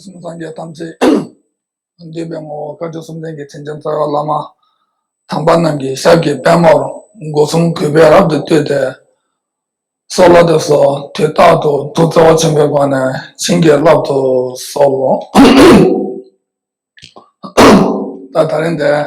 སྐུ་གསུམ་སངས་རྒྱས་དམ་ཚིག་འདུས་པའི་ངོ་བོ་དཀར་ཕྱོགས་སུམ་ལྡན་གྱི་མཚན་ཅན་རྩ་བའི་བླ་མ་དམ་པ་རྣམས་ཀྱི་ཞབས་ཀྱི་པདྨོར་སྒོ་གསུམ་གུས་པས་རབ་ཏུ་བཏུད་དེ། སྲོག་ལ་དུ་སོགས་དུས་རྟག་ཏུ་ཐུགས་བརྩེ་བ་ཆེན་པོའི་སྒོ་ནས་བྱིན་གྱིས་བརླབ་ཏུ་གསོལ། ད་ད་རིང་འདས།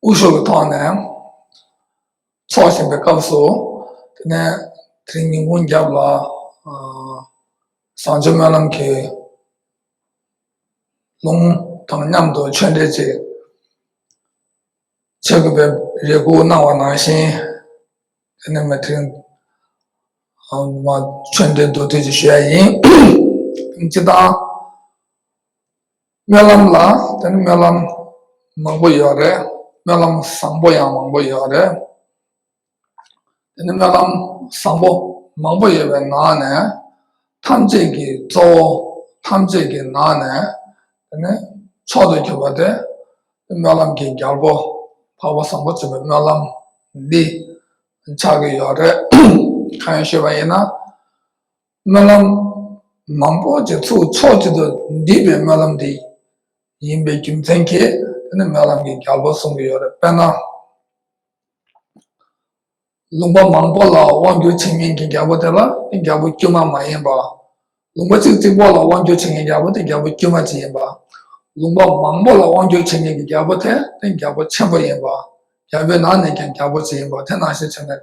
སྐུ་ཞོགས་ཀྱི་ཐོག་ནས་འཚོགས་བཞིན་པའི་སྐབས་སུ། དེ་ནས་དེ་རིང་ཉིན་གུང་རྒྱབ་ལ་བཟང་སྤྱོད་སྨོན་ལམ་གྱི་ལུང་དང་མཉམ་དུ་ཆོས་འབྲེལ་ཅིག་བྱེད་དགོས་པའི་རེ་སྐུལ་གནང་བ་ནང་བཞིན། དེ་ནས་དེ་རིང་ཆོས་འབྲེལ་བསྡུ་དུས་ཀྱི་ཞུ་ཡ་ཡིན། སྤྱི་བཏང། སྨོན་ལམ་ལ་དེ་ནི་སྨོན་ལམ་མང་པོ་ཡོད་རེད་སྨོན་ལམ་བཟང་པོ་ཡང་མང་པོ་ཡོད་རེད། དེ་ནི་སྨོན་ལམ་བཟང་པོ་མང་པོ་ཡོད་པའི་ནང་ནས་ཐམས་ཅད་ཀྱི་གཙོ་བོ་ཐམས་ཅད་ཀྱི་ནང་ནས་དེ་ནི་མཆོག་ཏུ་གྱུར་པ་དེ་སྨོན་ལམ་གྱི་རྒྱལ་པོ་འཕགས་པ་བཟང་པོ་ཆེ་བའི་སྨོན་ལམ་འདི་ཆགས་ཀྱི་ཡོད་རེད། གང་ཡིན་ཞུས་པ་ཡིན་ན། སྨོན་ལམ། མང་པོ་ཅིག་ཚུགས་ཆོག་ཅིག་ཏུ་འདུས་པའི་སྨོན་ལམ་དེ་ཡིན་པའི་རྒྱུ་མཚན་གྱིས་དེ་ནི་སྨོན་ལམ་གྱི་རྒྱལ་པོ་གསུང་གི་ཡོད་རེད་དཔེར་ན། ལུང་པ་མང་པོ་ལ་དབང་བསྒྱུར་བྱེད་མཁན་གྱི་རྒྱལ་པོ་དེ་ལ་དེ་རྒྱལ་པོ་དཀྱུས་མ་མ་ཡིན་པ། ལུང་པ་ཅིག་གཅིག་པོ་ལ་དབང་བསྒྱུར་བྱེད་མཁན་རྒྱལ་པོ་དེ་རྒྱལ་པོ་དཀྱུས་མ་གཅིག་ཡིན་པ། ལུང་པ་མང་པོ་ལ་དབང་བསྒྱུར་བྱེད་མཁན་གྱི་རྒྱལ་པོ་དེ་དེ་རྒྱལ་པོ་ཆེན་པོ་ཡིན་པ། རྒྱལ་པོའི་ནང་ནས་ཀྱང་རྒྱལ་པོ་གཅིག་ཡིན་པ་དེ་ནང་བཞིན་བྱས་ནས་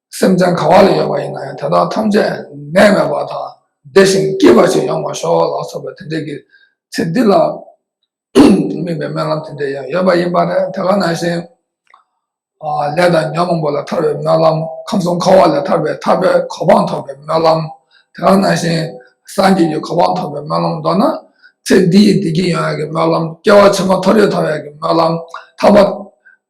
སེམས་ཅན་ག་བ་ལ་ཡོད་པ་ཡིན་ན་ཡང་དེ་དག་ཐམས་ཅད་གནས་མེད་པ་དང་བདེ་ཞིང་སྐྱིད་པ་ཞིག་ཡོང་བར་ཤོག་ལ་སོགས་པའི་དེ་འབྲེལ་གྱི་ཚིག་འདི་ལ་དམིགས་པའི་སྨོན་ལམ་དེ་འདྲ་ཡང་ཡོད་པ་ཡིན་པ་རེད་དེ་ལ་ནང་བཞིན་ལས་དང་ཉོན་མོངས་པ་ལས་ཐར་བའི་སྨོན་ལམ་ཁམས་གསུམ་འཁོར་བ་ལས་ཐར་པའི་ཐར་པའི་གོ་འཕང་ཐོབ་པའི་སྨོན་ལམ་དེ་ལ་ནང་བཞིན་སངས་རྒྱས་ཀྱི་གོ་འཕང་ཐོབ་པའི་སྨོན་ལམ་མདོར་ན་ཚེ་འདི་ཡི་བདེ་སྐྱིད་ཡོང་བའི་སྨོན་ལམ་སྐྱེ་བ་ཆེན་མོ་འཐོབ་རེ་ཐོབ་བའི་སྨོན་ལམ་ཐར་པ།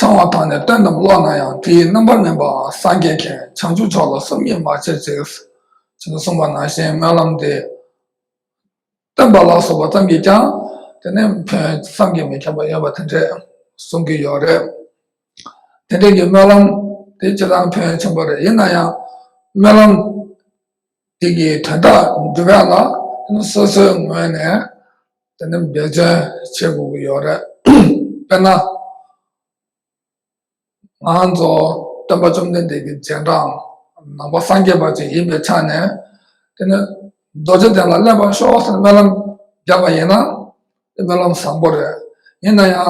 ཚང་བ་དང་ནི་སྟོན་རྣམས་ཀློག་ན་ཡང་དེའི་རྣམ་པར་སྨིན་པའང་སངས་རྒྱས་མཁྱེན་བྱང་ཆུབ་མཆོག་ལ་སོམ་ཉི་མ་བྱེད་ཅིག། ཅེས་གསུངས་པ་ན་གཞན་སྨོན་ལམ་འདི། སྟོན་པ་ལ་སོགས་པ་ཙམ་གྱིས་ཀྱང་དེ་ནི་ཕུན་སུམ་གྱིས་མི་ཁྱབ་པ་ཡོད་པ་དེ་འདྲས་གསུང་གི་ཡོད་རེད། དེ་འདྲས་ཀྱི་སྨོན་ལམ་དེ་ཅི་ལྟར་ཕུན་ཆེན་པོ་རེད་ཡིན་ན་ཡང་སྨོན་ལམ། དེ་གའི་དོན་དག་འདི་ག་ལ་སོ་སོའི་ངོས་ནས་འབད་བརྩོན་བྱེད་དགོས་ཀྱི་ཡོད་རེད། དཔེར་ན། ང་ཚོ་སྟོན་པ་བཅོམ་ལྡན་འདས་ཀྱི་རྗེས་འབྲང་ནང་པ་སངས་རྒྱས་པ་ཅིག་ཡིན་པའི་ཆ་ནས། དེ་ནི་རྡོ་རྗེ་གདན་ལ་སླེབས་པར་ཤོག་ཟེར་སྨོན་ལམ་རྒྱག་པ་ཡིན་ན། དེ་སྨོན་ལམ་བཟང་པོ་རེད། ཡིན་ན་ཡང།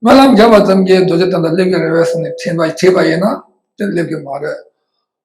སྨོན་ལམ་རྒྱག་པ་ཙམ་གྱིས་རྡོ་རྗེ་གདན་ལ་སླེབས་ཀྱི་རེད་བསམ་ནས་བྲིས་པ་ཡིན་ན་དེ་སླེབས་ཀྱི་མ་རེད།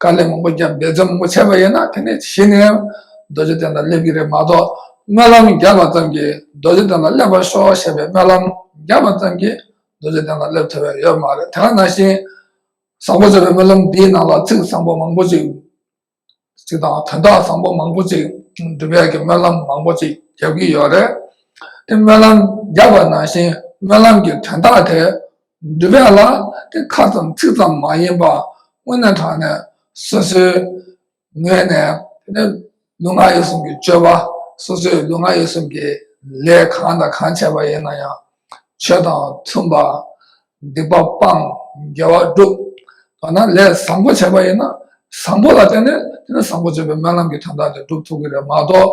དཀའ་ལས་མང་པོ་བརྒྱབ་འབད་བརྩོན་མང་པོ་བྱས་པ་ཡིན་ན་དེ་ནས་གཞི་ནས་རྡོ་རྗེ་གདན་ལ་སླེབས་ཀྱི་རེད་མ་གཏོགས་སྨོན་ལམ་རྒྱག་པ་ཙམ་གྱིས་རྡོ་རྗེ་གདན་ལ་སླེབས་པར་ཤོག་ཞེས་པའི་སྨོན་ལམ་རྒྱག་པ་ཙམ་གྱིས་རྡོ་རྗེ་གདན་ལ་སླེབས་ཐུབ་པའི་ཡོད་མ་རེད་དེ་ག་ནང་བཞིན་བཟང་པོ་ཟེར་བའི་སྨོན་ལམ་འདིའི་ནང་ལ་ཚིག་བཟང་པོ་མང་པོ་ཅིག་ཅིག་དང་དོན་དག་བཟང་པོ་མང་པོ་ཅིག་འབྲུ་བལ་གྱི་སྨོན་ལམ་མང་པོ་ཅིག་རྒྱབ་ཀྱི་ཡོད་རེད་དེ་སྨོན་ལམ་རྒྱག་པ་ནང་བཞིན་སྨོན་ལམ་གྱི་དོན་དག་དེ་འདོད་པའི་ལ་དེ་ཁ་ཙམ་ཚིག་ཙམ་མ་ཡིན་པར་སྔོན་ནས་དྲངས་ནས་སོ་སོའི་ངོས་ནས་དེ་ནི་ལུས་ངག་ཡིད་གསུམ་གྱི་སྤྱོད་པ་སོ་སོའི་ལུས་ངག་ཡིད་གསུམ་གྱི་ལས་གང་དང་གང་བྱས་པ་ཡིན་ན་ཡང་ཆོས་དང་མཐུན་པར་སྡིག་པ་སྤང་དགེ་བ་བསྒྲུབ། འདོད་ན་ལས་བཟང་པོ་བྱས་པ་ཡིན་ན་བཟང་པོ་ལ་བརྟེན་ནས་དེ་ནི་བཟང་པོ་སྤྱོད་པའི་སྨོན་ལམ་གྱི་དོན་དག་དེ་བསྒྲུབ་ཐུབ་ཀྱི་རེད་མ་གཏོགས་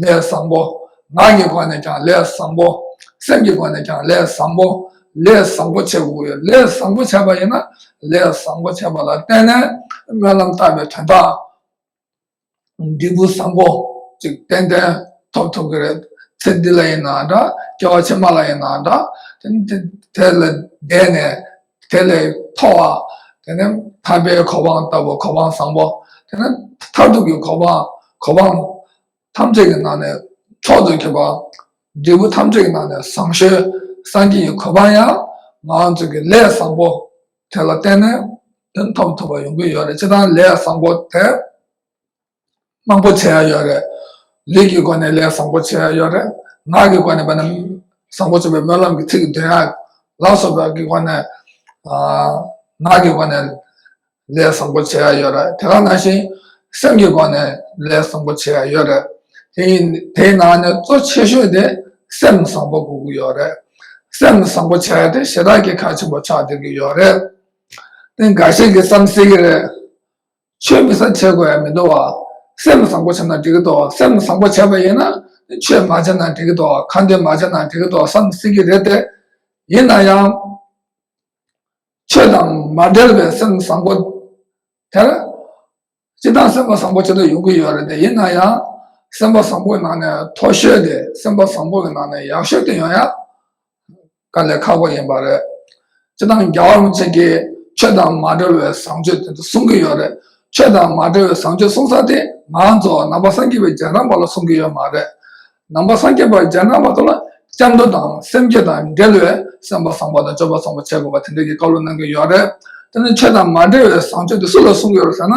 ལས་བཟང་པོ། ངག་གི་སྒོ་ནས་ཀྱང་ལས་བཟང་པོ། སེམས་ཀྱི་སྒོ་ནས་ཀྱང་ལས་བཟང་པོ། ལས་བཟང་པོ་བྱེད་དགོས། ལས་བཟང་པོ་བྱས་པ་ཡིན་ན། ལས་བཟང་པོ་བྱས་པ་ལ་བརྟེན་ནས་སྨོན་ལམ་བཏབ་པའི་དོན་དག། འབྲས་བུ་བཟང་པོ་ཅིག་ཏན་ཏན་ཐོབ་ཐུབ་ཀྱི་རེད། ཚེ་འདི་ལ་ཡིན་ན་འདྲ། སྐྱེ་བ་ཕྱི་མ་ལ་ཡིན་ན་འདྲ། དེ་ལ་བསྡད་ནས། དེ་ལས་མཐོ་བ། དེ་ནི་ཐར་པའི་གོ་འཕང་ལྟ་བུ་གོ་འཕང་བཟང་པོ། དེ་ནི་མཐར་ཐུག་གི་གོ་འཕང་གོ་འཕང་ཐམས་ཅད་ཀྱི་ནང་ནས་མཆོག་ཏུ་གྱུར་པ། འབྲས་བུ་ཐམས་ཅད་ཀྱི་ནང་ནས་བཟང་ཤོས་སངས་རྒྱས་ཀྱི་གོ་འཕང་ཡང་ང་ཚོས་ཀྱི་ལས་བཟང་པོ་དེ་ལ་བརྟེན་ནས་དོན་ཐོབ་ཐུབ་པ་ཡོང་གི་ཡོད་རེད་ཅེས་དང་ལས་བཟང་པོ་དེ། དམངས་པོ་བྱེད་ཡ་ཡོད་རེད། ལུས་ཀྱི་སྒོ་ནས་ལས་བཟང་པོ་བྱེད་ཡ་ཡོད་རེད། ངག་གི་སྒོ་ནས་བ་ན་བཟང་པོ་བྱེད་པའི་སྨོན་ལམ་གྱི་ཚིག་འདོན་ཡ། ལག་སོགས་པའི་སྒོ་ནས། ངག་གི་སྒོ་ནས་ལས་བཟང་པོ་བྱེད་ཡ་ཡོད་རེད། དེ་ག་ནང་བཞིན། སེམས་ཀྱི་སྒོ་ནས་ལས་བཟང་པོ་བྱེད་ཡ་ཡོད་རེད། དེའི་ནང་ནས་གཙོ་ཆེ་ཤོས་དེ་སེམས་བཟང་པོ་དགོས་ཀྱི་ཡོད་རེད། སེམས་བཟང་པོ་བྱེད་ཡ་དེ་ཞེ་དྲག་གི་ཁ་ཆེན་པོ་ཆགས་སྡོད་ཀྱི་ཡོད་རེད། དེ་འགའ་ཤས་ཀྱིས་བསམ་སྲིད་ཀྱི་རེད། ཆོས་མི་བཟང་བྱས་དགོས་ཡ་མི་འདུག་བ། སེམས་བཟང་པོ་བྱས་ན་འགྲིག་གི་འདུག་བ་སེམས་བཟང་པོ་བྱས་པ་ཡིན་ན་ཆོས་མ་བྱས་ན་འགྲིག་གི་འདུག་གང་འདོད་མ་བྱས་ན་འགྲིག་གི་འདུག་བསམ་སྲིད་ཀྱི་རེད་དེ། ཡིན་ན་ཡང། ཆོས་དང་མ་འབྲེལ་བའི་སེམས་བཟང་པོ། དེར། ཅི་ལྟར་སེམས་པ་བཟང་པོ་བྱེད་དུ་ཡོང་གི་ཡོད་རེད་དེ་ཡིན་ན་ཡང། སེམས་པ་བཟང་པོའི་ནང་ནས་མཐོ་ཤོས་དེ་སེམས་པ་བཟང་པོ་གི་ནང་ནས་ཡག་ཤོས་དེ་ཡོང་ཡ། དཀའ་ལས་ཁག་པོ་ཡིན་པ་རེད། སྤྱིར་བཏང་རྒྱ་གར་བ་ཅིག་གིས་ཆོས་དང་མ་འབྲེལ་བའི་བཟང་སྤྱོད་དེ་ཚོ་གསུང་གི་ཡོད་རེད། ཆོས་དང་མ་འབྲེལ་བའི་བཟང་སྤྱོད་གསུང་ས་དེ་ང་ཚོ་ནང་པ་སངས་རྒྱས་པའི་རྗེས་འབྲང་པ་ལ་གསུང་གི་ཡོད་མ་རེད། ནང་པ་སངས་རྒྱས་པའི་རྗེས་འབྲང་པ་ཚོ་ལ་སྐྱབས་འགྲོ་དང་སེམས་བསྐྱེད་དང་འབྲེལ་བའི་སེམས་པ་བཟང་པོ་དང་སྤྱོད་པ་བཟང་པོ་བྱེད་དགོས་པ་དེ་འདྲ་གི་བཀའ་སློབ་གནང་གི་ཡོད་རེད། དེ་ནས་ཆོས་དང་མ་འབྲེལ་བའི་བཟང་སྤྱོད་དེ་སུ་ལ་གསུང་གི་ཡོད་རེད་ཟེར་ན།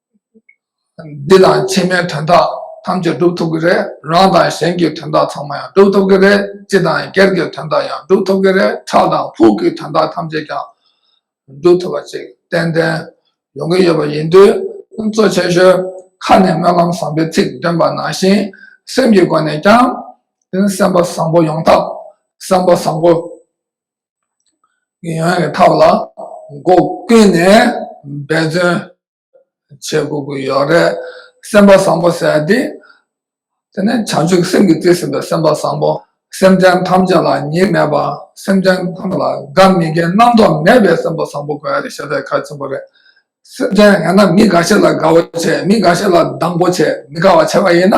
འདི་ལ་ཕྱི་མའི་དོན་དག་ཐམས་ཅད་སྒྲུབ་ཐུབ་ཀྱི་རེད་རང་དང་གཞན་གྱི་དོན་དག་ཚང་མ་ཡང་སྒྲུབ་ཐུབ་ཀྱི་རེད་སྤྱི་དང་སྒེར་གྱི་དོན་དག་ཡང་སྒྲུབ་ཐུབ་ཀྱི་རེད་ཁྲག་དང་ཕུག་གི་དོན་དག་ཐམས་ཅད་ཀྱང་སྒྲུབ་ཐུབ་པ་ཅིག་ཏན་ཏན་ཡོང་གི་ཡོད་པ་ཡིན་དུས་གཙོ་ཆེ་ཤོས་ཁ་ནས་སྨོན་ལམ་བཟང་པོའི་ཚིག་འདོན་པ་ནང་བཞིན་སེམས་ཀྱི་སྒོ་ནས་ཀྱང་སེམས་པ་བཟང་པོ་ཡོང་ཐབས་སེམས་པ་བཟང་པོ། ཡང་ཡང་གི་ཐབས་ལ་སྒོ་ཀུན་ནས་འབད་བརྩོན་བྱེད་དགོས་ཀྱི་ཡོད་རེད། སེམས་པ་བཟང་པོ་ཟེར་དེ། དེ་ནི་བྱང་ཆུབ་སེམས་ཀྱིས་བརྩེ་ཟིན་པའི་སེམས་པ་བཟང་པོ། སེམས་ཅན་ཐམས་ཅད་ལ་གཉིས་མེད་པ། སེམས་ཅན་ཐམས་ཅད་ལ་དགའ་མི་དགའི་རྣམ་རྟོག་མེད་པའི་སེམས་པ་བཟང་པོ་དགོས་ཞེས་པའི་ཁ་ཆེན་པོ་རེད། སེམས་ཅན་ཡང་ན་མི་འགའ་ཤས་ལ་དགའ་བོ་བྱེད་མི་འགའ་ཤས་ལ་སྡང་པོ་བྱེད་མི་དགའ་བ་བྱེད་པ་ཡིན་ན།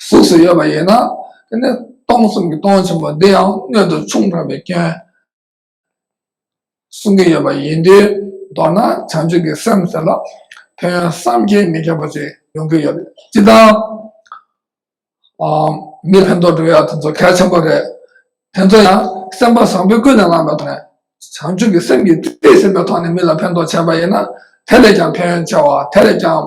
གཟུགས་སུ་ཡོད་པ་ཡིན་ན་དེ་ནི་སྟོང་གསུམ་གྱི་སྟོང་ཆེན་པོ་འདི་ཡང་སྣོད་དུ་ཆུང་དྲགས་པའི་སྐྱོན། གསུང་གི་ཡོད་པ་ཡིན་དུས་མདོར་ན་བྱང་ཆུབ་ཀྱི་སེམས་ཟེར་ལ་ཕན་ཡོན་བསམ་གྱིས་མི་ཁྱབ་པ་ཅིག་ཡོང་གི་ཡོད། སྤྱི་བཏང་མི་ཕན་ཐོགས་འགྲོ་ཡག་དེ་ཚོ་གལ་ཆེན་པོ་རེད། དེ་ཚོ་ཡང་སེམས་པ་བཟང་པོས་ཀུན་ནས་བསླངས་པའི་ཐོག་ནས་བྱང་ཆུབ་ཀྱི་སེམས་ཀྱིས་བརྩེ་བས་ཟིན་པའི་ཐོག་ནས་མི་ལ་ཕན་ཐོགས་བྱས་པ་ཡིན་ན་དེ་ལས་ཀྱང་ཕན་ཡོན་ཆེ་བ་དེ་ལས་ཀྱང།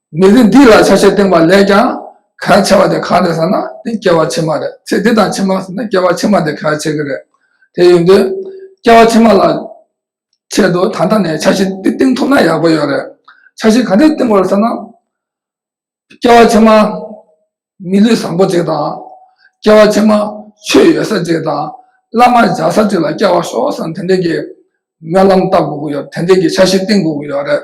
མི་ཚེ་འདི་ལ་ཆ་ཤས་བཏིང་བ་ལས་ཀྱང་གལ་ཆེ་བ་དེ་གང་རེད་ཟེར་ན་དེ་སྐྱེ་བ་ཕྱི་མ་རེད་ཚེ་འདི་དང་ཕྱི་མ་ཟེར་ན་སྐྱེ་བ་ཕྱི་མ་དེ་གལ་ཆེ་གི་རེད། དེ་ཡིན་དུས་སྐྱེ་བ་ཕྱི་མ་ལ་ཆེད་དུ་ད་ལྟ་ནས་ཆ་ཤས་འདི་བཏིང་ཐུབ་ན་ཡག་པོ་ཡོད་རེད། ཆ་ཤས་ག་འདྲས་བཏིང་བར་ཟེར་ན། སྐྱེ་བ་ཕྱི་མ་མི་ལུས་བཟང་པོ་ཅིག་དང། སྐྱེ་བ་ཕྱི་མ་ཆོས་ཡོད་ས་ཅིག་དང་བླ་མ་བཞག་ས་ཅིག་ལ་སྐྱེ་བ་ཤོག་བསམ་དེ་འདྲས་ཀྱི་སྨོན་ལམ་བཏབ་དགོས་ཀྱི་ཡོད་དེ་འདྲས་ཀྱི་ཆ་ཤས་བཏིང་དགོས་ཀྱི་ཡོད་རེད།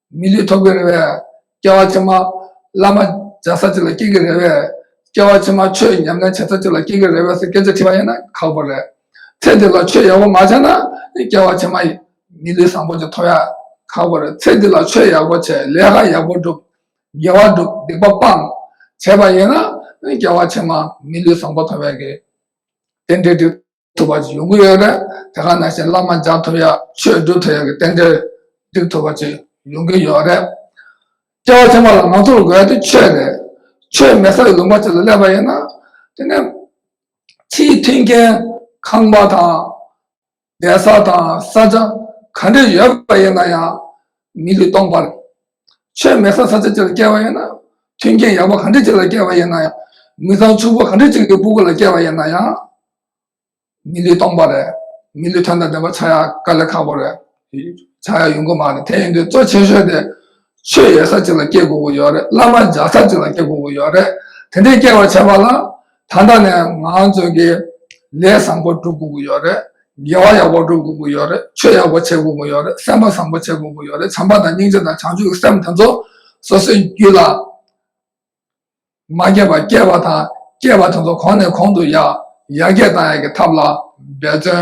མི་ལུས་ཐོག་པའི་རེ་བས་སྐྱེ་བ་ཕྱི་མ། བླ་མ་མཇལ་ས་ཅིག་ལ་སྐྱེ་གི་རེ་བས་སྐྱེ་བ་ཕྱི་མ། ཆོས་ཉམས་ལེན་བྱེད་ས་ཅིག་ལ་སྐྱེ་གི་རེ་བས་སོགས་སྐད་ཆ་དྲི་བ་ཡིན་ན་ཁག་པོ་རེད། ཚེ་འདི་ལ་ཆོས་ཡག་པོ་མ་བྱས་ན་སྐྱེ་བ་ཕྱི་མ། མི་ལུས་བཟང་པོ་ཅིག་ཐོབ་ཡ་ཁག་པོ་རེད། ཚེ་འདི་ལ་ཆོས་ཡག་པོ་བྱས་ལས་ཀ་ཡག་པོ་བསྒྲུབས། དགེ་བ་བསྒྲུབས་སྡིག་པ་སྤངས། བྱས་པ་ཡིན་ན་སྐྱེ་བ་ཕྱི་མ་མི་ལུས་བཟང་པོ་ཐོབ་ཡག་གི། དེ་འདྲའི་དྲི། ཐུབ་པ་ཡོང་གི་ཡོད་རེད་དེ་ག་ནང་བཞིན་བླ་མ་འཇགས་ཐུབ་ཡ་ཆོས་སྒྲུབ་ཐུབ་ཡ་གི་རྟེན་འབྲེལ་བསྒྲིགས་ཐུབ་པ་ཅིག་ཡོང་གི་ཡོད་རེད་སྐྱེ་བ་ཕྱི་མ་ལ་ང་ཚོར་དགོས་ཡ་དེ་ཆོས་རེད་ཆོས་མེད་ས་ལ་ལུང་པ་ཅིག་ལ་སླེབས་པ་ཡིན་ན་དེ་ནས་ཕྱིའི་མཐུན་རྐྱེན་ཁང་པ་དང་བསྡད་ས་དང་ས་ཆ་ག་འདྲ་ཡོད་པ་ཡིན་ན་ཡང་མི་ལུས་སྟོང་པར་ཆོས་མེད་ས་ས་ཆ་ཆ་ལ་སྐྱེ་བ་ཡིན་ན་མཐུན་རྐྱེན་ཡག་པོ་ག་འདྲི་ཅིག་ལ་སྐྱེ་བ་ཡིན་ན་ཡང། མི་ཚང་ཕྱུག་པོ་ག་འདྲི་ཅིག་གི་སྤུ་གུ་ལ་སྐྱེ་བ་ཡིན་ན་ཡང། མི་ལུས་སྟོང་པ་རེད། མི་ལུས་ཐོན་དང་ལྡན་པ་ཆགས་ཡག་དཀའ་ལས་ཁག་པོ་རེད། ཆགས་ཡག་ཡོང་གི་མ་རེད་དེ་ཡིན་དུས་གཙོ་ཆེ་ཤོས་དེ། ཆོས་ཡོད་ས་ཅིག་ལ་སྐྱེ་དགོས་ཀྱི་ཡོད་རེད་བླ་མ་འཇགས་ས་ཅིག་ལ་སྐྱེ་དགོས་ཀྱི་ཡོད་རེད་དེ་འདྲའི་སྐྱེ་བ་བྱས་པ་ལ། ད་ལྟ་ནས་ང་ཚོས་ཀྱི་ལས་བཟང་པོ་སྒྲུབ་དགོས་ཀྱི་ཡོད་རེད། དགེ་བ་ཡག་པོ་སྒྲུབ་དགོས་ཀྱི་ཡོད་རེད། ཆོས་ཡག་པོ་བྱེད་དགོས་ཀྱི་ཡོད་རེད། སེམས་པ་བཟང་པོ་བྱེད་དགོས་ཀྱི་ཡོད་རེད། བྱམས་པ་དང་སྙིང་རྗེ་དང་བྱང་ཆུབ་ཀྱི་སེམས་དེ་ཚོ་སོ་སོའི་རྒྱུད་ལ་མ་སྐྱེས་པར་སྐྱེས་པ་དང་སྐྱེས་པ་དེ་ཚོ་གོང་ནས་གོང་དུ་ཡར་རྒྱས་གཏང་ཡག་གི་ཐབས་ལ་འབད་བརྩོན་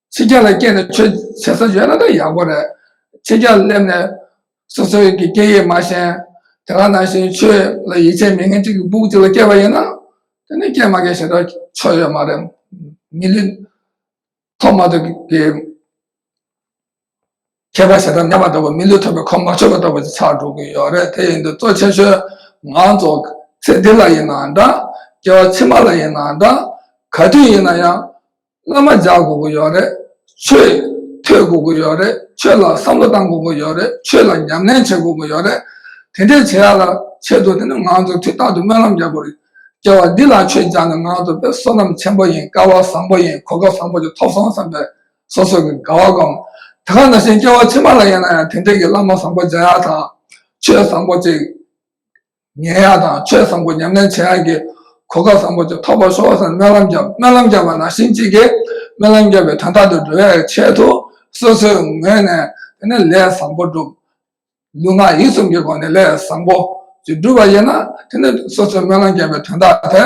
ཚིག་རྒྱ་ལ་སྐྱེས་ནས་ཆོས་བྱེད་ས་ཡོད་ན་ད་ཡག་པོ་རེད། ཚིག་རྒྱ་སླེབས་ནས་སོ་སོའི་གི་སྐད་ཡིག་མ་ཤེས། དེ་ག་ནང་བཞིན་ཆོས་ལ་ཡིད་ཆེས་མི་ངན་གཅིག་གི་སྦུག་གཅིག་ལ་སྐྱེས་པ་ཡིན་ན། དེ་ནི་སྐྱེས་མ་སྐྱེས་ཞེ་དྲག་ཆོ་ཡོད་མ་རེད། མི་ལུས་ཐོག་མ་དུ་གི། ཁྱད་པར་ཞེ་སྡང་ཉམས་པ་ལྟ་བུ་མི་ལུས་ཐོབ་པའི་ཁོག་མ་ཆོད་པ་ལྟ་བུ་ཞིག་ཆགས་འགྲོ་གི་ཡོད་རེད་དེ་ཡིན་དུས་གཙོ་ཆེ་ཤོས་ང་ཚོ་ཚེ་འདི་ལ་ཡིན་ནའང་འདྲ་སྐྱེ་བ་ཕྱི་མ་ལ་ཡིན་ནའང་འདྲ་ག་དུས་ཡིན་ན་ཡང་བླ་མ་འཇགས་དགོས་ཀྱི་ཡོད་རེད་ཆོས་ཐོས་དགོས་ཀྱི་ཡོད་རེད་ཆོས་ལ་བསམ་བློ་གཏང་དགོས་ཀྱི་ཡོད་རེད་ཆོས་ལ་ཉམས་ལེན་བྱེད་དགོས་ཀྱི་ཡོད་རེད་དེ་འདྲའི་བྱེད་ཡག་ལ་ཆེད་དུ་དེ་ནི་ང་ཚོས་དུས་རྟག་ཏུ་སྨོན་ལམ་རྒྱག་དགོས་རེད་སྐྱེ་བ་འདི་ལ་ཆོས་བྱ་ནི་ང་ཚོ་པའི་བསོད་ནམས་ཆེན་པོ་ཡིན་དཀའ་བ་བཟང་པོ་ཡིན་གོ་སྐབས་བཟང་པོ་ཞིག་ཐོབ་སོང་བསམ་པའི། སོ་སོ་གི་དགའ་བ་སྒོམ། དེ་ཁ་ན་ཞིང་སྐྱེ་བ་ཕྱི་མ་ལ་ཡིན་ན་ཡང་དེ་འབྲེལ་གྱི་བླ་མ་བཟང་པོ་སྦྱང་ཡག་དང། ཆོས་བཟང་པོ་གཅིག་ཉན་ཡག་དང་ཆོས་བཟང་པོ་ཉམས་ལེན་བྱེད་ཡག་གི་གོ་སྐབས་བཟང་པོ་དེ་ཐོབ་པར་ཤོག་ཅེས་སྨོན་ལམ་བརྒྱབ་སྨོན་ལམ་བརྒྱབ་པ་ན་ཞིང་གཅིག་གིས་སྨོན་ལམ་བརྒྱབ་པའི་དོན་རྟག་ཏུ་འགྲུབ་པའི་ཆེད་དུ་སོ་སོའི་ངོས་ནས་དེ་ནས་ལས་བཟང་པོ་བསྒྲུབ། ལུས་ངག་ཡིད་གསུམ་གྱི་སྒོ་ནས་ལས་བཟང་པོ་གཅིག་བསྒྲུབས་པ་ཡིན་ན་དེ་ནས་སོ་སོའི་སྨོན་ལམ་བརྒྱབ་པའི་དོན་རྟག་དེ།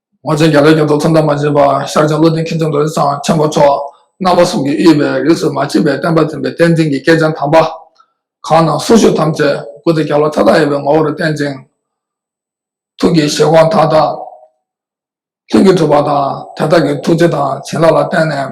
ངོ་ཚའི་རྒྱ་ལོའི་ཉོ་ཐོག་ཚོམས་དང་མ་བཅས་པ་ཤར་བྱང་བློ་ལྡན་མཁས་བཙུན་རྡོ་རྗེ་འཆང་ཆེན་པོ་མཆོག་རྣམ་པ་གསུམ་གྱི་དབྱེ་བའི་རིགས་སུ་མ་མཆིས་པའི་བསྟན་པ་འཛིན་པའི་བསྟན་འཛིན་གྱི་སྐྱེས་ཆེན་དམ་པ། གང་རྣམས་གསུང་ཤོད་ཐམས་ཅད་སྐུ་ཚེ་རྒྱ་ལོ་མཐའ་དག་དབྱེ་བའི་ངོ་བོ་རུ་བསྟན་ཅིང། ཐུགས་ཀྱི་བཞེད་དགོངས་མཐའ་དག་ལྷུན་གྱིས་གྲུབ་པ་དང་དེ་དག་གི་ཐུགས་རྗེ་དང་བྱིན་རླབས་ལ་བརྟེན་ནས།